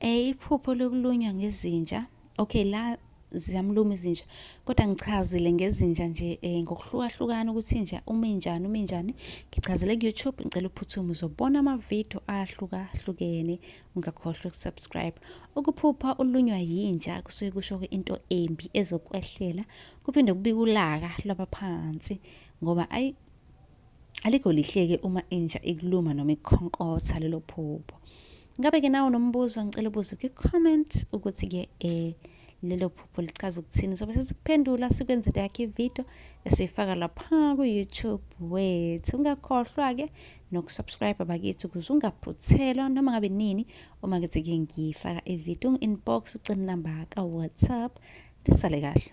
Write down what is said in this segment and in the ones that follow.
Eh iphupho lokulunywa ngezinja. Okay la ziyamluma izinja kodwa ngichazile ngezinja nje eh, ngokuhlukahlukana ukuthi inja uma injani uma injani ngichazele ku-youtube ngicela uphuthuma uzobona amavidiyo ahlukahlukene ungakhohlwa ukusubscribe ukuphupha ulunywa yinja kusuke kusho into embi ezokwehlela kuphinde kubike ulaka lwabaphansi ngoba ayi Alikho lihleke uma inja ikuluma noma ikukhonkotha lelo phupho. Ngabe-ke nawe nombuzo ngicela ubuze kwi-comment ukuthi-ke um lelo phupho lichaza ukuthini sobe sesikuphendula sikwenzele yakhe ividiyo esiyifaka lapha ku-youtube wethu ungakhohlwa-ke nokusubscribe bakithi ukuze ungaphuthelwa noma ngabe nini uma kuthi-ke ngiyifaka ividiyo ungu-inbox ucela inamba ka-whatsapp lisale kahle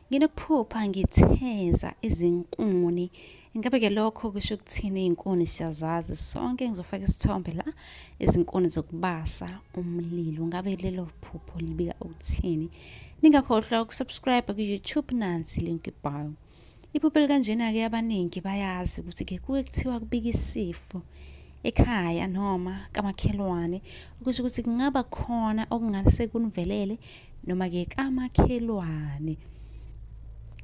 Nginokuphupha ngitheza izinkuni. Ingabe ke lokho kusho ukuthini iy'nkuni siyazazi sonke ngizofaka isithombe la izinkuni zokubasa umlilo. Ngabe lelo phupho libika ukuthini? Ningakhohlwa ukusubscribe ku-YouTube nansi link ibhayo. Iphupho elikanjena-ke abaningi bayazi ukuthi ke kuke kuthiwa kubika isifo ekhaya noma kamakhelwane okusho ukuthi kungaba khona okungase kunivelele noma-ke kamakhelwane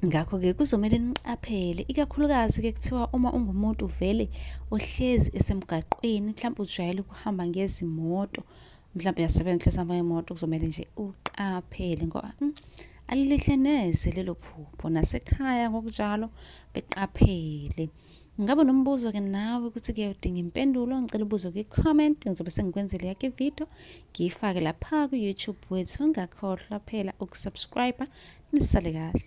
ngakho-ke kuzomele niqaphele ikakhulukazi-ke kuthiwa uma ungumuntu vele ohlezi esemgaqweni mhlawumbe ujwayele ukuhamba ngezimoto mhlawumbe uyasebenza uhlezi hamba ngemoto kuzomele nje uqaphele ngoba mm, alilihle neze lelo phupho nasekhaya ngokunjalo beqaphele Ngabe nombuzo ke nawe ukuthi ke udinga impendulo ngicela ubuzo kwi comment ngizobe sengikwenzele yakhe video ngiyifake lapha ku YouTube wethu ungakhohlwa phela ukusubscribe nisale kahle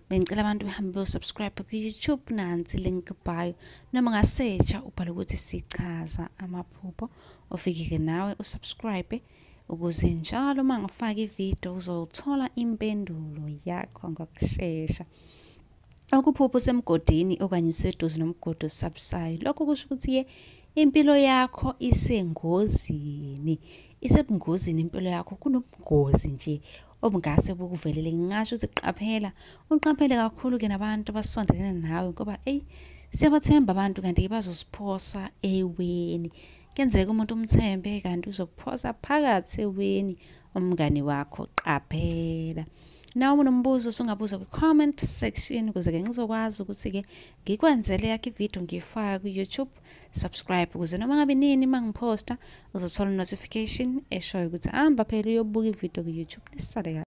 bengicela abantu behambe beyosubscribe ku-youtube nansi link bio noma ngasetsha ubhala ukuthi sichaza amaphupho ofike-ke nawe usubscribe ukuze njalo uma ngifaka ividiyo uzothola impendulo yakho ngokushesha ukuphupha usemgodini okanye useduze nomgodi osabusayo lokho kusho ukuthi-ke impilo yakho isengozini isebungozini impilo yakho kunobungozi nje obungase bukuvelele ngingasho ukuthi qaphela uqaphele kakhulu ke nabantu abasondelene nawe ngoba eyi siyabathemba abantu kanti-ke bazosiphosa eweni kenzeka umuntu umthembe kanti uzokuphosa phakathi eweni umngani wakho qaphela nawe unombuzo sungabuza kwi-comment section ukuze-ke ngizokwazi ukuthi-ke ngikwenzele yakho ividiyo ngiyifake ku-youtube subscribe ukuze noma ngabe nini uma ngiphosta uzothola notification eshoyo ukuthi hamba phela uyobuka ividiyo ku-youtube nisale kahle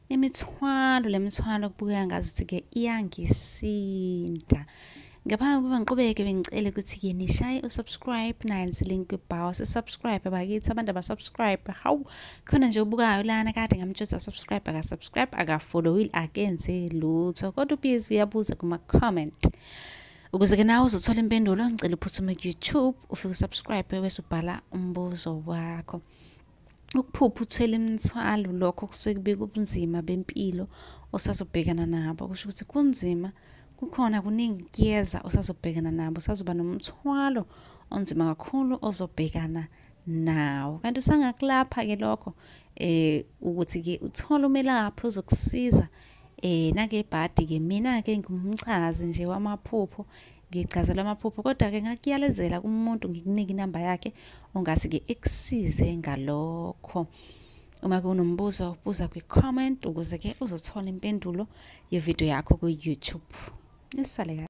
imithwalo lemithwalo kubukeka ngazuthi ke iyangisinda ngaphambi kokuba ngiqhubeke bengicele ukuthi-ke nishaye usubscribe nansi link kwibhawa sisubscribe bakithi abantu abasubscribe hawu khona nje ubukayo lana kade ngamtshoza subscribe akasubscribe akafollowile akenzi lutho kodwa ubhizi uyabuza kuma-comment ukuze-ke nawe uzothola impendulo ngicela uphuthume ku-youtube ufike usubscribe bese ubhala umbuzo wakho ukuphupha uthwele imithwalo lokho kusuke kubika ubunzima bempilo osazobhekana nabo kusho ukuthi kunzima kukhona kuningi kuyeza osazobhekana nabo usazoba nomthwalo onzima kakhulu ozobhekana nawo kanti usangakulapha-ke lokho um ukuthi-ke uthole umelaphi ozokusiza um Eh nake bhadi ke mina ke ngumchazi nje wamaphupho ngichazelwa amaphupho kodwa ke ngakuyalezela kumuntu ngikunike inamba yakhe ongase ke ekusize ngalokho uma kunombuzo buza kwi comment ukuze ke uzothola impendulo ye video yakho ku YouTube nisale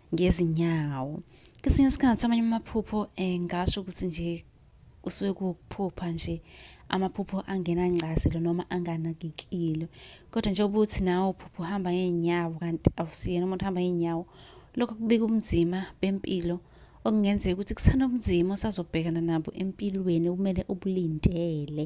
ngezinyawo kwesinye isikhathi amanye amaphupho um ngasho ukuthi nje kusuke kuwukuphupha nje amaphupho angenangcazelo noma anganakekile kodwa njengoba uthi nawe uphupha uhamba ngey'nyawo kanti awusiyena umuntu uhamba ngey'nyawo lokho kubika ubunzima bempilo okungenzeka ukuthi kusanobunzima osazobhekana nabo empilweni okumele ubulindele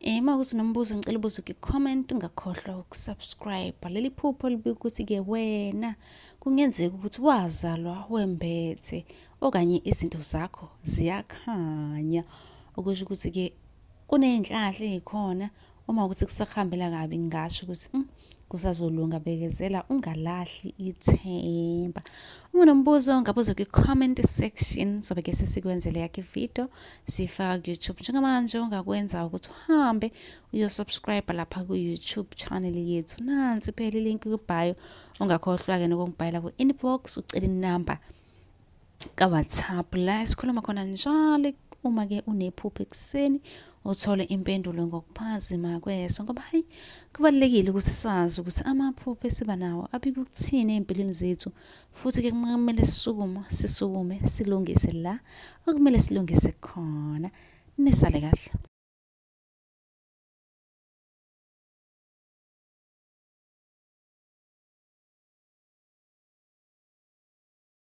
Eh uma ukuthi nombuzo ngicela ubuze ku-comment ungakhohlwa ukusubscribe. Leli phupho libika ukuthi-ke wena kungenzeka ukuthi wazalwa wembethe okanye izinto zakho ziyakhanya. Okusho ukuthi-ke kuney'nhlahla ey'khona uma ukuthi kusahambela kabi ngingasho ukuthi mm, kusazolunga bekezela ungalahli ithemba ungunombuzo ngabuze kwi-comment section sobe ke sesikwenzele yakho ividiyo siyifaka ku-youtube njengamanje ongakwenza ukuthi uhambe uyosubscribe lapha ku-youtube channel yethu nansi phela ilinki kubhayo ungakhohlwa-ke nokungibhayela ku-inbox ucela inumber kawhatsapp la esikhuluma khona njalo uma ke unephupho ekuseni uthole impendulo ngokuphazima kweso ngoba hayi kubalulekile ukuthi sazi ukuthi amaphupho esiba nawo abika ukuthini ey'mpilweni zethu futhi ke kumele sisukume sisukume silungise la okumele silungise khona nisale kahle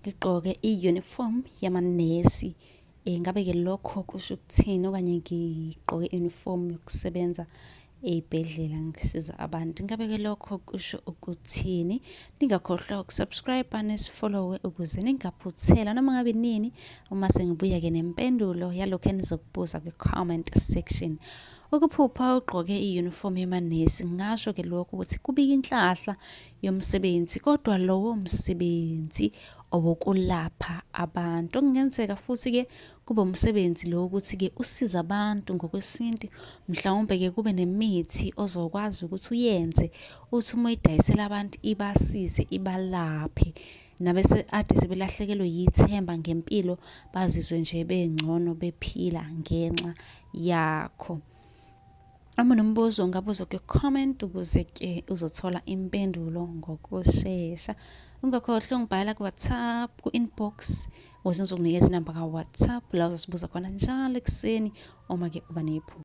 ngigqoke i-uniform yamanesi um ngabe-ke lokho kusho ukuthini okanye ngigqoke i-uniform yokusebenza ey'bhedlela ngisiza abantu ngabeke lokho kusho ukuthini ningakhohlwa ukusubscribe nesifollowe ukuze ningaphuthela noma ngabe nini uma sengibuya-ke nempendulo yalokhu enizokubuza kwi-comment section ukuphupha ugqoke i-uniform yemanesi ngasho-ke lokho ukuthi kubika inhlahla yomsebenzi kodwa lowo msebenzi owokulapha abantu okungenzeka futhi-ke kube umsebenzi lo ukuthi-ke usiza abantu ngokwesintu mhlawumbe-ke kube nemithi ozokwazi ukuthi uyenze uthi uma uyidayisela abantu ibasize ibalaphe nabese ade sebelahlekelwe yithemba ngempilo bazizwe nje bengcono bephila ngenxa yakho Uma nombuzo ungabuza kwi-comment ukuze ke uzothola impendulo ngokushesha. Ungakhohlwa ungibhala ku-WhatsApp, ku-inbox ukuze ngizokunikeza inamba ka-WhatsApp la uzosibuza khona njalo ekuseni uma ke uba nephupho.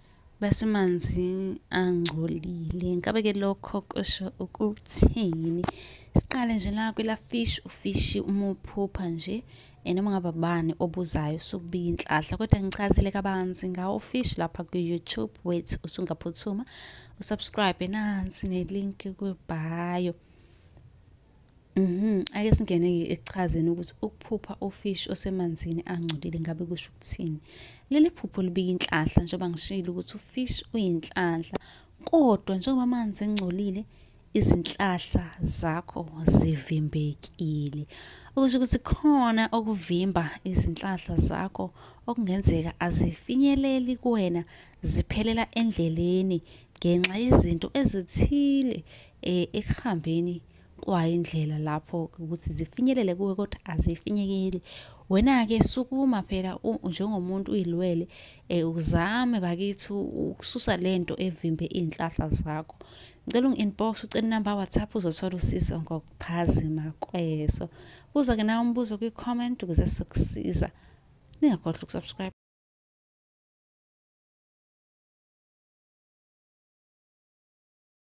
basemanzi angcolile ngabe ke lokho kusho ukuthini siqale nje la kwela fish ufishi uma uphupha nje and uma ngaba bani obuzayo sokubiya inhlahla kodwa ngichazile kabanzi ngawo fish lapha ku-youtube wethu usungaphuthuma usubscribe nansi nelinki kwibhayo Mhm, ake singene ke ekuchazeni ukuthi ukuphupha ufish osemanzini angcolile ngabe kusho ukuthini. Leli phupho libika inhlahla njengoba ngishilo ukuthi ufish uyinhlahla kodwa njengoba amanzi engcolile izinhlahla zakho zivimbekile. Okusho ukuthi khona okuvimba izinhlahla zakho okungenzeka azifinyeleli kuwena ziphelela endleleni ngenxa yezinto ezithile eh, ekuhambeni kwayo indlela lapho ukuthi zifinyelele kuwe kodwa azifinyekeli wena-ke sukuma phela njengomuntu uyilwele um uzame bakithi ukususa le nto evimbe iy'nhlahla zakho ngicela ungi-inbox ucela inamba whatsapp uzothola usizo ngokuphazima kweso uzoke nawe umbuzo kwi-comment ukuze sokusiza ningakhohlwa ukusubscribe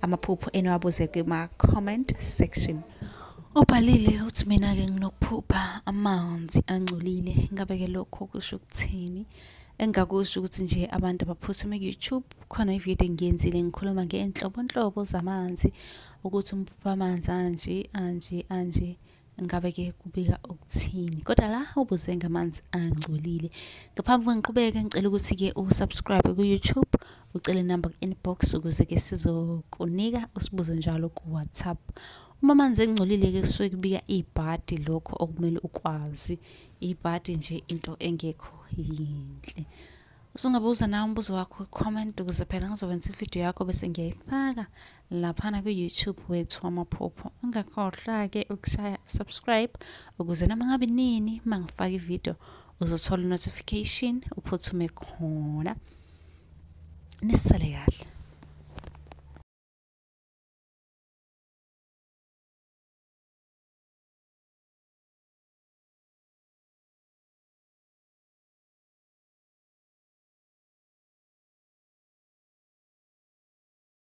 amaphupho eniwabuze kuma-comment section ubhalile uthi mina-ke nginokuphupha amanzi angcolile ngabe-ke lokho kusho ukuthini engingakusho ukuthi nje abantu abaphuthume ku-youtube khona ividiyo engiyenzile ngikhuluma ngey'nhlobonhlobo zamanzi ukuthi umphupha amanzi anje anje anje ngabe ke kubika ukuthini kodwa la ubuze ngamanzi angcolile ngaphambi kwengiqhubeke ngicela ukuthi ke usubscribe ku YouTube ucele number ku inbox ukuze ke sizokunika usibuze njalo ku WhatsApp uma amanzi engcolile ke kusuke kubika ibhadi lokho okumele ukwazi ibhadi nje into engekho yinhle usungabuza nawe umbuzo wakho comment ukuze phela ngizokwenza ividiyo yakho bese ngiyayifaka laphana ku-youtube wethu wamaphupho ungakhohlwa-ke ukushaya subscribe ukuze noma ngabe nini uma ngifaka ividiyo uzothola i-notification uphuthume khona nisale kahle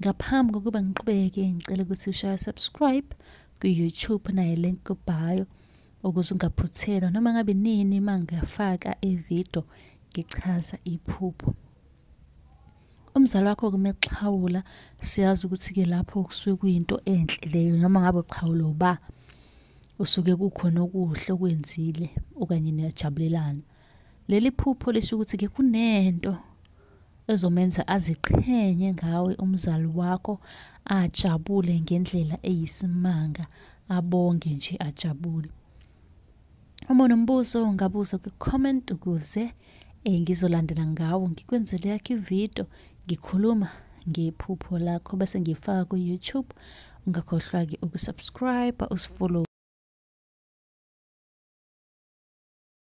Ngaphambi kokuba ngiqhubeke ngicela ukuthi ushaya subscribe ku-YouTube naye link kubhayo ukuze ungaphuthelwa noma ngabe nini uma ngiyafaka ividiyo ngichaza iphupho. Umzali wakho kumexhawula siyazi ukuthi-ke lapho kusuke kuyinto enhle leyo noma ngabe uxhawula uba usuke kukhona okuhle okwenzile okanye niyajabulelana. Leli phupho lisho ukuthi ke kunento ezomenza aziqhenye ngawe umzali wakho ajabule ngendlela eyisimanga abonge nje ajabule. Uma unombuzo ungabuza kwi-comment ukuze eh, ngizolandela ngawo ngikwenzele yakho ividiyo ngikhuluma ngephupho lakho bese ngiyifaka ku-YouTube ungakhohlwa-ke ukusubscribe usifollow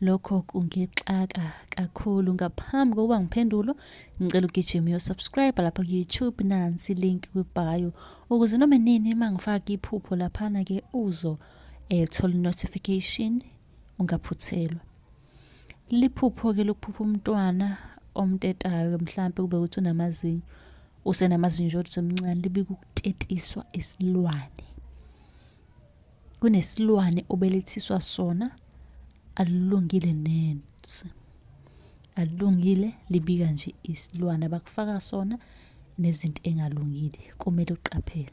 lokho kungixaka kakhulu ngaphambi kokuba ngiphendulo ngicela ugijima uyosubscribe lapha ku-youtube nansi link kwibhayo ukuze noma nini uma ngifaka iphupho laphana-ke uzo eh, thola notification ungaphuthelwa liphupho-ke lokuphupha umntwana omtetayo-ke mhlawumpe kube ukuthi unamazinyo usenamazinyo kodwa semncane libike ukutetiswa isilwane kunesilwane obelethiswa sona alilungile nensi alilungile libika nje isilwane abakufaka sona nezinto engalungile kumele uqaphele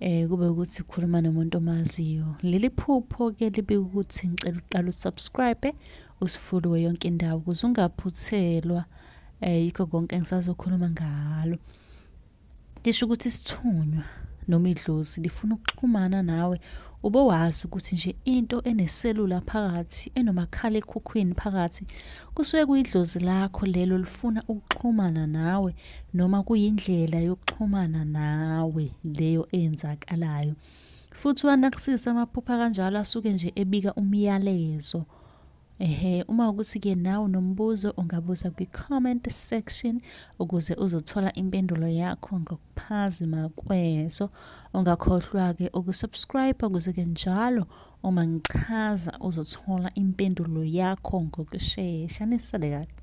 eh kube ukuthi ukhuluma nomuntu omaziyo leli phupho ke libe ukuthi ngicela uqala usubscribe usifuliwe yonke indawo ukuze ungaphuthelwa eh yikho konke engisazokhuluma ngalo lisho ukuthi isithunywa noma idlozi lifuna ukuxhumana nawe ube wazi ukuthi nje into eneselula phakathi enomakhala ekhukhwini phakathi kusuke kuyidlozi lakho lelo lifuna ukuxhumana nawe noma kuyindlela yokuxhumana nawe leyo eyenzakalayo futhi uwanakisisa amaphupha kanjalo asuke nje ebika umyalezo ehe uma ukuthi ke nawe nombuzo ungabuza kwi-comment section ukuze uzothola impendulo yakho ngokuphazima kweso ungakhohlwa-ke ukusubscribe ukuze-ke njalo uma ngichaza uzothola impendulo yakho ngokushesha nisale kahle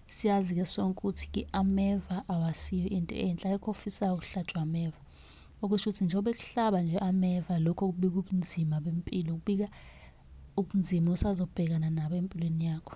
siyazi ke sonke ukuthi ke ameva awasiyo into enhle ayikho ofisayo ukuhlatshwa ameva okusho ukuthi njengoba ekuhlaba nje ameva lokho kubika ubunzima bempilo kubika ubunzima osazobhekana nabo empilweni yakho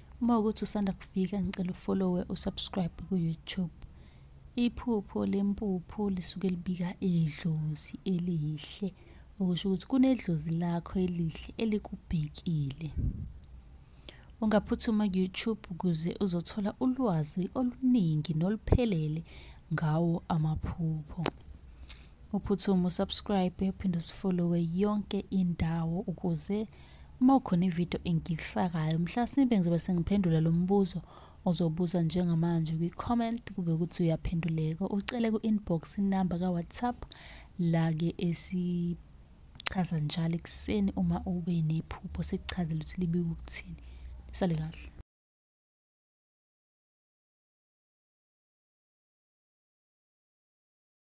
Uma ukuthi usanda kufika ngicela ufollowe usubscribe ku-YouTube. Iphupho lempuphu lisuke libika idlozi elihle okusho ukuthi kunedlozi lakho elihle elikubhekile. Ungaphuthuma ku-YouTube ukuze uzothola ulwazi oluningi noluphelele ngawo amaphupho. Uphuthume usubscribe uphinde usifollowe yonke indawo ukuze Uma ukhona ividiyo engiyifakayo mhlasimpe ngizobe sengiphendula lo mbuzo ozobuza njengamanje kwi-comment kube ukuthi uyaphenduleka ucele ku-inbox inamba ka-whatsapp la-ke esichaza njalo ekuseni uma ube nephupho sikuchazele ukuthi libike ukuthini nisale kahle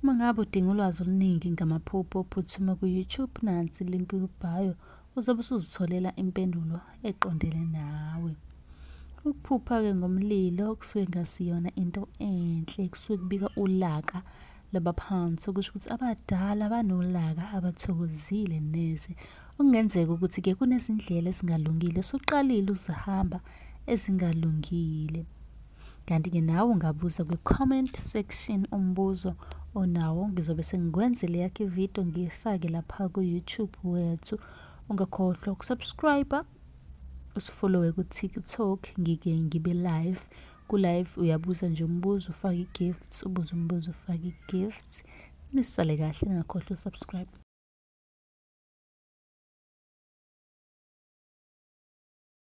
Uma ngabe udinga ulwazi oluningi ngamaphupho, phuthuma ku-YouTube nansi link kubhayo uzobe usuzitholela impendulo eqondele nawe. Ukuphupha-ke ngomlilo kusuke ngasiyona into enhle, kusuke kubika ulaka labaphansi okusho ukuthi abadala banolaka abathokozile neze. Okungenzeka ukuthi-ke kunezindlela ezingalungile osuqalile uzihamba ezingalungile. kanti-ke nawe ungabuza kwi-comment section umbuzo onawo ngizobe sengikwenzele yakho ividiyo ngiyifake lapha ku-youtube wethu ungakhohlwa ukusubscribe usifollowe ku-tiktok ngike ngibe live ku-live uyabuza nje umbuzo ufake i-gifts ubuze umbuzo ufake i-gifts nisale kahle ningakhohlwa usubscribe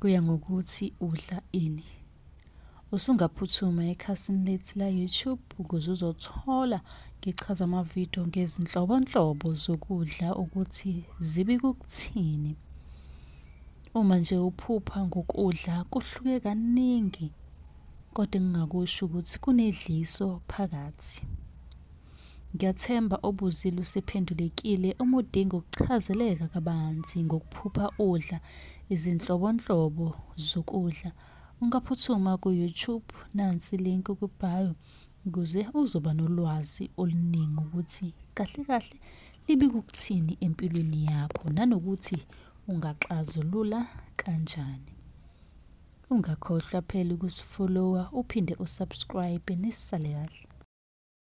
kuya ngokuthi udla ini usungaphuthuma ekhasini lethu la-youtube ukuze uzothola ngichaza amavidiyo ngezinhlobonhlobo zokudla ukuthi zibi kukuthini uma nje uphupha ngokudla kuhluke kaningi kodwa engingakusho ukuthi kunedliso phakathi Ngiyathemba obuzile usephendulekile uma udinga ukuchazeleka kabanzi ngokuphupha udla izinhlobonhlobo zokudla. Ungaphuthuma ku-YouTube nansi link kwibhayo ukuze uzoba nolwazi oluningi ukuthi kahle kahle libika ukuthini empilweni yakho nanokuthi ungaxazulula kanjani. Ungakhohlwa phela ukusifollowa uphinde usubscribe nisale kahle.